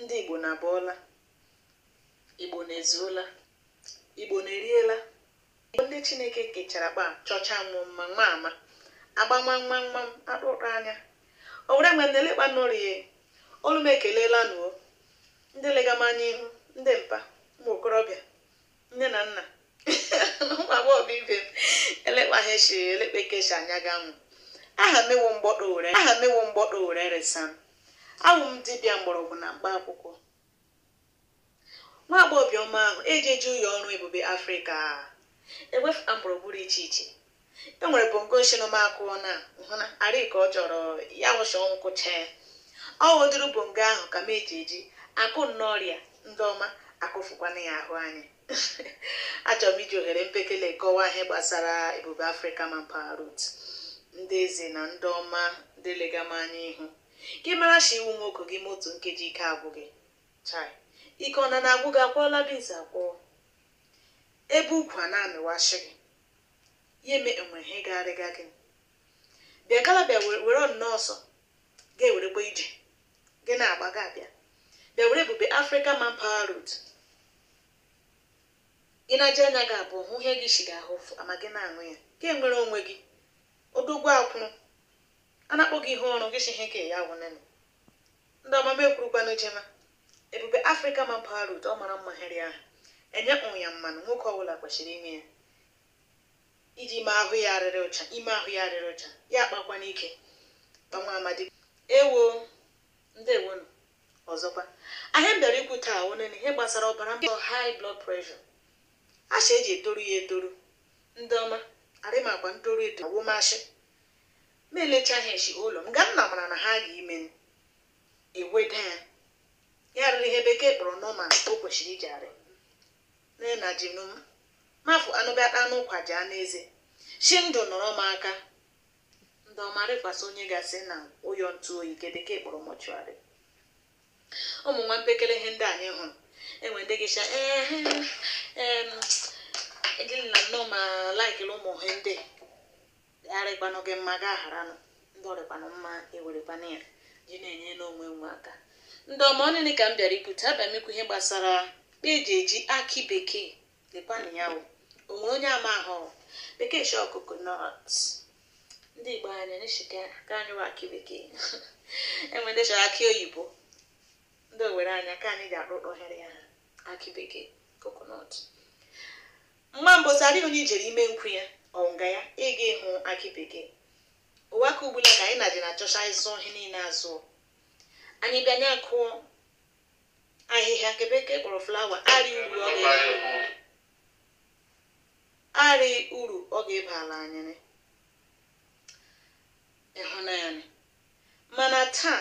ndị Igbo na-abọọla Igbo na-ezuola Igbo na-eriela Igbo ndị Chineke kechara kpa chọcha nwụ mma nwa ama agbama nwa nwa m akpụkpọ anya Owere nwe na-elekpa nọrie olu m ekelela nụ o ndị lega m anya ihu ndị mpa ụmụ okorobịa nne na nna ụmụ agbọghọ bụ ibe m elekpaghị echi elekpeke echi anya ga nwụ aha m ewo mgbọdọ Owere resa m awụ m dibịa mgbọrọgwụ na mkpa akwụkwọ nwa agbọghọbịa ọma ahụ eji eji ụyọ ọrụ Ebube Afrịka ewefụta mgbọrọgwụ rị iche iche e nwere bongo shino m akụọ na hụna arị ka ọ chọrọ ya nwụcha ọnwụ kụcha ya ọ wụ ụdịrị bongo ahụ ka m eji eji akụ n'ọrịa ndị ọma akụfukwana ya ahụ anyị achọrọ m iji ohere mpekele kọwaa ihe gbasara Ebube Afrịka Manpower Root ndị eze na ndị ọma ndị lega m anya ihu gị mara shi ị wụ nwoke gị mee otu nkeji ike agwụ gị chai ike ọ na na-agwụ gị akwọọla bizi akwọọ ebe ukwu a na-amịwashi gị ya eme enwere ihe ga-arịga gị bịa gala bịa were nnọọ ọsọ ga-ewerekwa ije gị na-agba gị abịa bịa were Ebube Africa Manpower Root ị na-eji anya gị abụọ hụ ihe ga-eshi gị ahụ afụ ma gị na-aṅụ ya gị enwere onwe gị odogwu akwụrụ a na-akpọ gị ihe ọrụ gị shi ihe ka ya wụnene ndị ọma m ekwurukwanụ jema Ebube Afrịka Manpower Root ọ mara mma hịrị ahụ enye ụnwụ ya mmanụ nwoke ọbụla kwesịrị ime ya iji ime ahụ ya arịrị ụcha ya akpakwa n'ike ma nwa amadi ewo ndewonu ọzọkwa ihe m bịara ikwu taa wụnene ihe gbasara ọbara mgbọ high blood pressure asha eji etoru ya etoru ndị ọma arịmakwa ntoru eto awụmashị ma elechaghị echi ụlọ m ga nna mara na ha ga ime eweda ya ya rịrị ihe bekee kpọrọ normal o kwesịrị iji arị na ji nụ m mafụ anụbịa ata anụ ụkwa ji anụ eze si ndụ nọrọ m aka ndị ọma rịkwasị onye gasị na ụyọ ntụ oyi nke bekee kpọrọ mortuary ụmụ nwa mpekele ihe ndị anyị hụrụ enwe ndị gịcha ehe em ejili na nnọọ ma laikiri ụmụ ihe ndị arịkwanụ gị mma gị agharanụ ndị ọrịkwanụ mma ewerekwana ya ji na-enye n'onwe nwe aka ndị ọma ọ niile ka m bịara ikwu taa abịa m ikwu ihe gbasara kpa eji eji akị bekee lekwanụ ya o o nwere onye amahụ bekee shi coconut ndị Igbo anyị n'eshike ka anyị wa akị bekee enwe ndị chọrọ akị oyibo ndị Owere anyị ka anyị ga-akpụkpọ ohere ya akị bekee coconut Mgba mbụ arị onye i jere ime nkwu ya ọ nga ya ị ga-ahụ akị bekee ụwa ka ugbula ka anyị na-adị na-achọcha ịzụ ihe niile azụ anyị bịa nye akụọ ahịhịa nke bekee kpọrọ flower arị uru ọ ga-eba arị uru ọ ga-ebala anyị nị. ịhụnanya nị. mana taa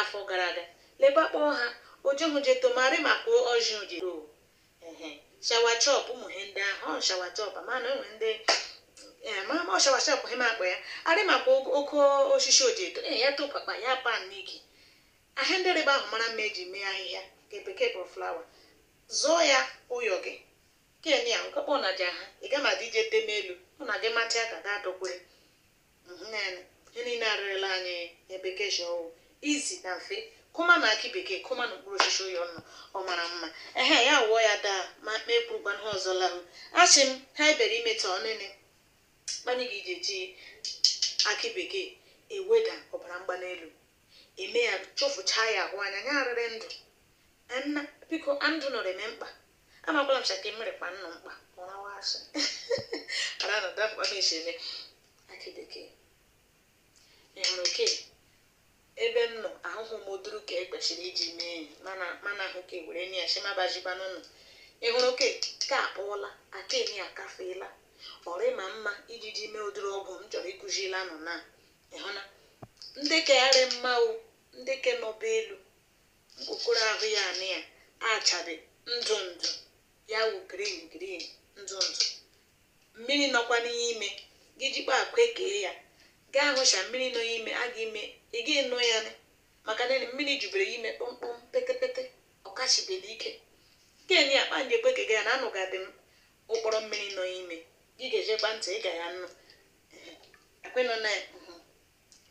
Afọ gara aga, lekwa kpọọ ha, Ojohun je to mari ma ko Ọjịn je to. Ehe, shawa chọp ụmụ he ndị ahụ, ọ shawa chọp, mana e nwe ndị ee ma ma ọ shawa chọp he ma akpọ ya, arị makwa ogo- oke osisi o ji eto, ee ya tokwakpa ya pan n'ike. Ahịa ndị rịba ahụ mara mma eji mee ahịhịa nke bekee kpọrọ flower. Zụọ ya ụyọ gị. Kenye ya, nkọkpọ na ja ha, ị ga ma dị ije teme elu, ọ na gị matịa ka ga adọkwere. izi na mfe kụmanụ akị bekee kụmanụ mkpụrụ osisi ụyọ nụ ọ mara mma ehe ya wụọ ya daa ma kpee kpurukwa ihe ọzọ lahụ asị m ha ebere ime taa ọnịnị kpanye gị ije ji akị bekee eweda ọbara mgbali elu eme ya chụfụchaa ya ahụ anya ya arịrị ndụ nna biko ndụ nọrọ eme mkpa amakwala m sị ka mmiri kpa nnụ mkpa ọ rawa asị ara na dapụ ebe esi eme akị bekee ị hụrụ oke ebe m nọ ahụhụ m ụdịrị ke e kwesịrị iji mee enyi mana mana ahụ ka were nye ya sị mabajiba n'ụlọ ị hụrụ oke ka akpọọla akị nị akafeela ọ rị ma mma iji ji mee ụdịrị ọgwụ m chọrọ ịkụzila unu na ị hụ na ndị ke ga-arị mma ọ ndị ke nọba elu Okpokoro ahụ ya anị ya achabe ndụ ndụ ya wụ green green ndụ ndụ mmiri nọkwa n'ime gị jikwa aka ekee ya gaa ahụcha mmiri nọ ime a ga ime ị ga ịnụ ya nị maka na mmiri jubere ya ime kpọmkpọm petepete ọ kashibere ike gịnị akpa ndị ekwe kega ya na anụ ga-adị m ụkpọrọ mmiri nọ ime gị gejekwa ntị ị ga ya anụ ekwenụ na ya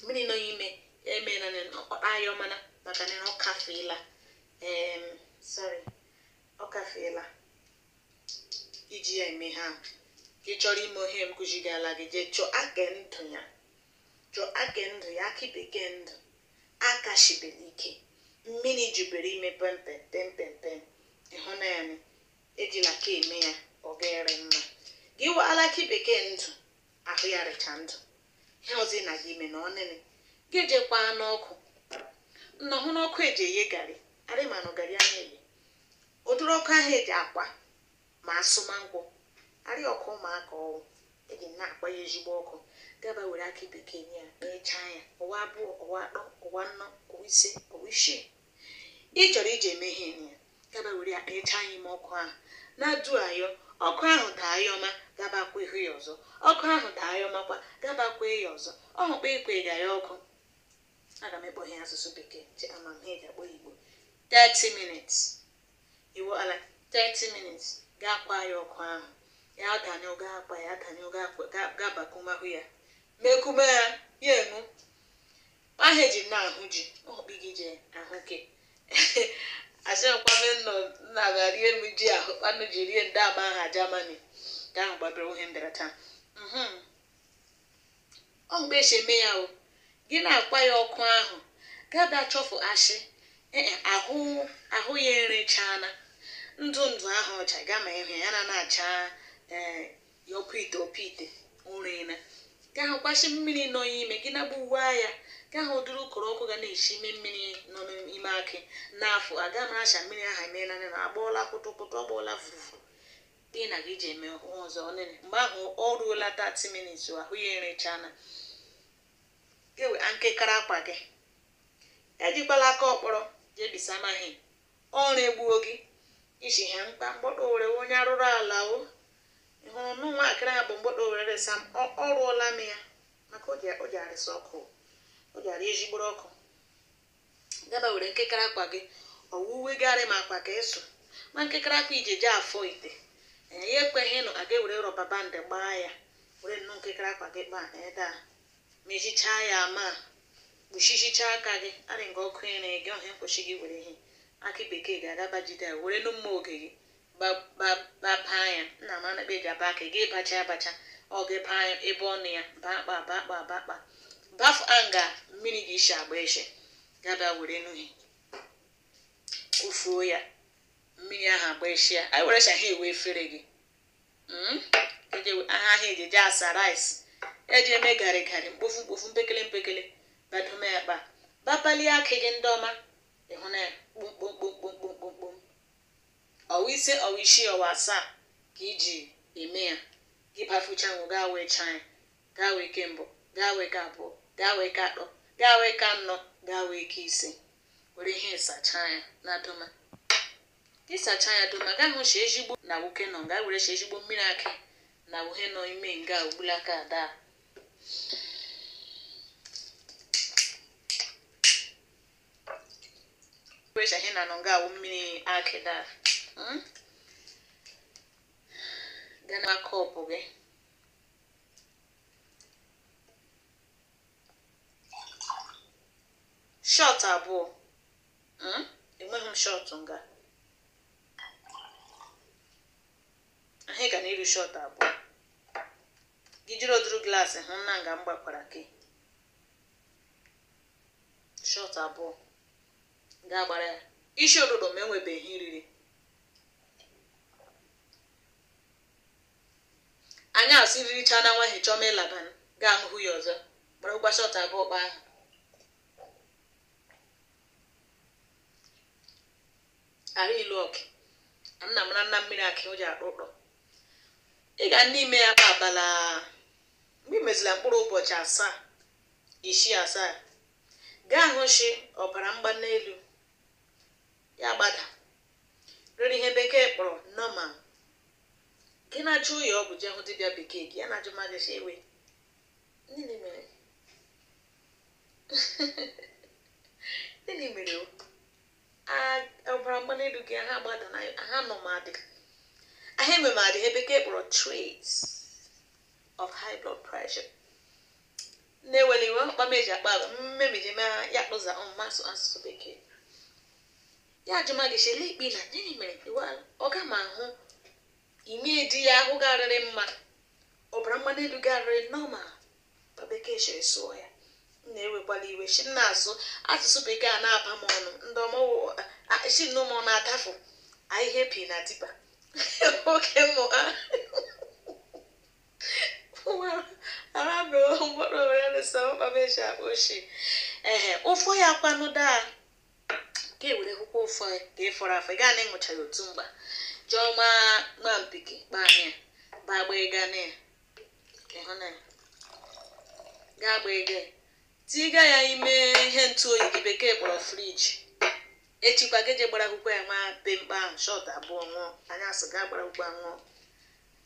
mmiri nọ ime ya eme na ọkpọta ayọ mana maka na ọ kafeela em sorry ọ kafeela iji ya eme ihe a gị chọrọ ime ọ ihe m kụzigala gị jee chọọ akị ndụ ya chọọ akị ndụ ya akị bekee ndụ akashibere ike mmiri jubere ime pempem pempem pem ị hụ na ya ejila ka eme ya ọ ga-arị mma gị waala akị bekee ndụ ahụ ya rịcha ndụ ihe ọzọ ị na-aga ime na ọnịnị gị ejekwaa n'ọkụ nna hụ n'ọkụ eji eghe garị arị ma nụ garị a na-eghe ụdịrị ọkụ ahụ eji akwa ma asụ manụ nkwụ arị ọkụ ụmụaka ọ wụ eji na-akpa ya ezigbo ọkụ gaba were akị bekee nye ya kpechaa ya ọwa abụọ ọwa atọ ọwa anọ ọwa ise ọwa isii ị chọrọ iji eme ihe nye ya gaba were ya kpecha ya ime ọkụ ahụ na-adu ayọ ọkụ ahụ daa ya ọma gaba kwa ihu ya ọzọ ọkụ ahụ daa ya ọmakwa gaba kwa ya ọzọ ọhụ kpa ị kwaga ya ọkụ aga m ekpọghị asụsụ bekee ji ama m ihe ga-akpọ igbo 30 minutes iwu ala 30 minutes gaa kwa ya ọkụ ahụ ya danye oge akpa ya danye oge akpa ga-abakumahụ ya mekume ya enu aha eji na-ahụ ji ọkpị gị ji ahụ gị asịkwanụ nọ nna ga rie m ji ahụ kpanụ ji rie ndị ama aha Germany ka ahụ gbabere ihe mbịara taa mhm. ọ mgbe esi eme ya o gị na-akwa ya ọkụ ahụ gada chọfụ ashị ee e, ahụ ahụ ya erechaana ndụ ndụ ahụ ọcha gama ịhụ ya na na-acha ee eh, ya ọkụ ite ọkụ ite ụrịna ka ahụ kwasị mmiri nọ ya ime gị na gbuwaa ya ka ahụ duru ụkọrọ ọkụ ga na-esi ime mmiri nọ n'ime akị n'afọ aga m acha mmiri ahụ emeela na agbọọla kụtụkụtụ ọ gbọọla fufu dị na gị ji eme ọhụụ ọzọ ọnene mgbe ahụ ọ ruola 30 minutes ahụ ya erechana gewe nkekara akwa gị ejikwala aka ọkpọrọ jebisa amaghị O regbuo gị isi ha mkpa mgbọdọ owere onye arụrụ ala o ị hụrụ nụ nwa akịrị a bụ mgbọdọ owere resa m ọ ọ rụọla m ya maka o ji o ji arịsa ọkụ o ji arị ejigboro ọkụ gaba were nkekere akwa gị ọwa uwe gị arị ma akwa ka ịsụ ma nkekere akwa iji eje afọ ite ee ya ekweghị nụ aga ewere rubber band gbaa ya were nnọọ nkekere akwa gị kpaa ebe a mechichaa ya ma kpuchichicha aka gị arị nga ọkụ ere gị ọhịa mkpochi gị were ihe akị bekee ga-agaba jide ya were nụ mma oge gị bapaa ya nna m anakpa eji aba aka gị bacha abacha ọ gị paa ya ebe ọnụ ya baa kpa baa kpa baa kpa bafụ anga mmiri ga-esi agba eshe gaba were n'uhi kụfuo ya mmiri ahụ agba eshi ya anyị were shaha ewe efere gị hmm? eji aha ahụ eji eji asa rice eji eme garị garị mkpofu mkpofu mpekele mpekele badome ya kpa bapalie akị gị ndị ọma ịhụ na ya kpomkpomkpomkpomkpomkpom ọwa ise ọwa isii ọwa asaa ka iji eme ya gị bafucha nwụ gaa wee chaa ya gaa wee ke mbụ gaa wee ke abụọ gaa wee ke atọ gaa wee ke anọ gaa wee ke ise were ihe sachaa ya na doma Ịsacha ya doma, gaa hụ shi ezigbo na wuke nọ nga were shi ezigbo mmiri akị na wuhe nọ ime nga ugbula aka ada. Were che ihe na nọ nga awụ mmiri akị da. Mm? Gana kọpụ gị. Shot abụọ. Hmm? enweghị m shọtụ nga ahụ ga na iru shọtụ abụọ gị jiri oduru glaasị hụ nna nga m gbakwara gị shọtụ abụọ ga-agbara ya isi ụtụtụ ma enwebeghị i riri anyasị riricha na nwa hichọma ịlaba gaa hụ ya ọzọ gbara ụgba shọtụ abụọ kpa ahụ ara ilu ọkụ nna mara nna mmiri akị o ji akpa ụkpọ ị ga n'ime ya kpa abala mgbe ị mezila mkpụrụ ụbọchị asaa isii asaa gaa hụ shi ọbara mgbali elu ya gbada rere ihe bekee kpọrọ normal gị na-eje ụyọ ọgwụ jee hụ dibịa bekee gị ya na-ajụ mmadụ si ewe nini mere nini mere ọbara mgbali elu gị ha gbada na ha nọ m adị ahụ eme m adị ihe bekee kpọrọ traits of high blood pressure na-ewela iwe mkpa m eji akpa agwa mmemiji m ya kpụza m asụ asụsụ bekee ya ajụma gị chele ikpe na nini mere ọ ga m ahụ ime di ya ahụ garịrị mma ọbara mgbali elu garịrị normal ka bekee shiri sụọ ya m na-ewekwala iwe shi m na-asụ asụsụ bekee a na-aba m ọnụ ndị ọmọwụ shi m na ụmụ na-atafụ ihe epi na tipa oke mụ ha arabụrụ mkpụrụ were lụsa mkpaba eji akpa ochie ehe ụfọ ya kwanụ daa ka ewere hụkwa ụfọ ya ka ị fọrọ afọ ị gaa na ịṅụcha ya otu mgba jụọ ma ma mpiki kpaa ya ba agba ịga na ya ga-agba ege tiga ya ime ihe ntụ oyi gị bekee kpọrọ friji echikwa gị je gbara akwụkwọ ya nwa be mkpa ahụ shọt abụọ ṅụọ anyasị gaa gbara akwụkwọ ya ṅụọ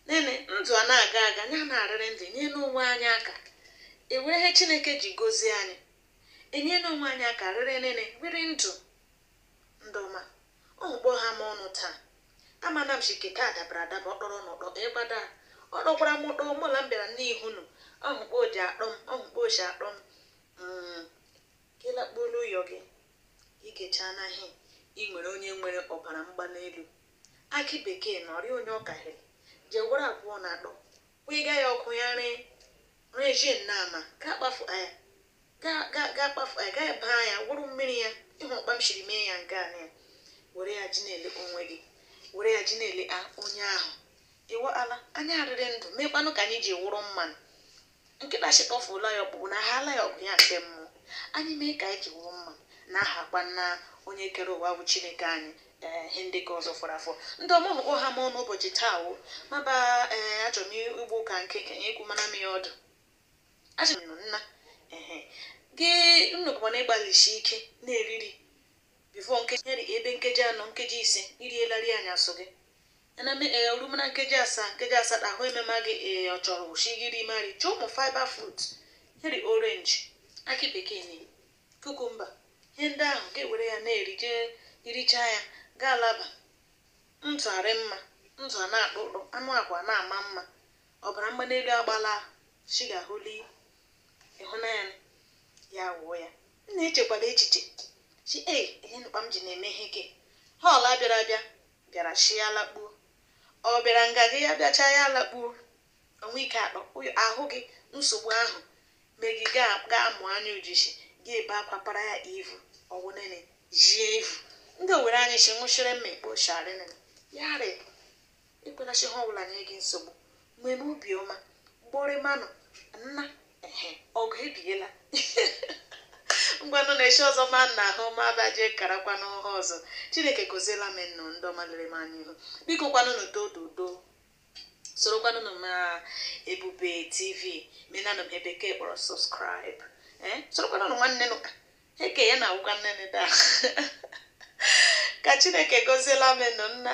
nene ndụ a na-aga aga ya na-arịrị ndụ nye n'onwe anyị aka ewere ihe Chineke ji gozie anyị enye n'onwe anyị aka rịrị nene rịrị ndụ ndọma ọmụkpọ ha ma ọnụ taa amana m shike ka adabara adaba ọkpọrọ n'ụkpọ ịgbada ọ dọkwara m ụkpọ mụla m bịara n'ihu nụ ọhụkpọ oji akpọ m ọhụkpọ oji akpọ m Mm, gị lakpuola ụyọ gị ị ga-echa n'ahịa ị nwere onye nwere ọbara mgbali elu akị bekee na ọrịa onye ọkahịrị jee were abụọ na atọ kwụga ya ọkụ ya ree ree jin na ama ka akpafu ya ga-akpafu ya gaghị baa ya wụrụ mmiri ya ị hụọ kpa m siri mee ya nke a na ya were ya ji na-ele onwe gị were ya ji na-ele a onye ahụ ịwa ala anya adịrị ndụ meekwanụ ka anyị ji wụrụ mmanụ nkịta chịkọfụla ya ọkpụkpụ na haala ya ọgụ ya nke mmụọ anyị mee ka anyị ji wụrụ mmanụ na aha kwa nna onye kere ụwa bụ chineke anyị ee ihe ndị ka ọzọ fọrọ afọ ndị ọmụmụkpọ ha ma ọnụ ụbọchị taa ọ ma ba ee achọrọ m igbu ụka nke ka nye ekwu mana m ya ọdụ Asị m nna ehe gị unu bụkwa na ịgbalịsi ike na-eri iri before nkeji ya dị ebe nkeji anọ nkeji ise irielarị anyasụ gị ana m ee o rume na nkeji asaa nkeji asatọ agụụ emema gị ee ị chọrọ wụ sị gị ri mari chọọ ụmụ fiber fruit ya dị orange akị bekee na cucumber ihe ndị ahụ ga-ewere ya na-erije irichaa ya gaa laba ntụ arị mma ntụ a na-akpụ ụkpụ anụ akwa na-ama mma ọbara mgbali elu agbaala shuga hụli ịhụnanya ya wụọ ya nna echekwala echiche chi e ihe nụ kpa m ji na-eme ihe ke họọla bịara abịa bịara sị ya lakpuo ọ bịara nga gị ya bịachaa ya lakpuo onwe ike akpa ahụ gị nsogbu ahụ mee gị gaa gaa mụọ anya ujishi gị ebe akwa para ya ivu ọ wụ nene jie ivu ndị owere anyị si nwụchiri mma ekpo sharịnị yarị ekwela sị ihe ọbụla nye gị nsogbu were obi ọma gbọrị manụ nna ehe ọgụ ebiela ngwanụ n'echi ọzọ ma nna ahụ ma abaje karakwanụ ha ọzọ chineke goziela m nnụ ndị ọma lere m anya ihu biko kwanụnụ dododo sorokwanụnụ m na ebube tv menanụ m ihe bekee kpọrọ subscribe ee sorokwanụnụ nwanne nụ eke ya na awụkwa nne nne da ka chineke goziela m nnụ nna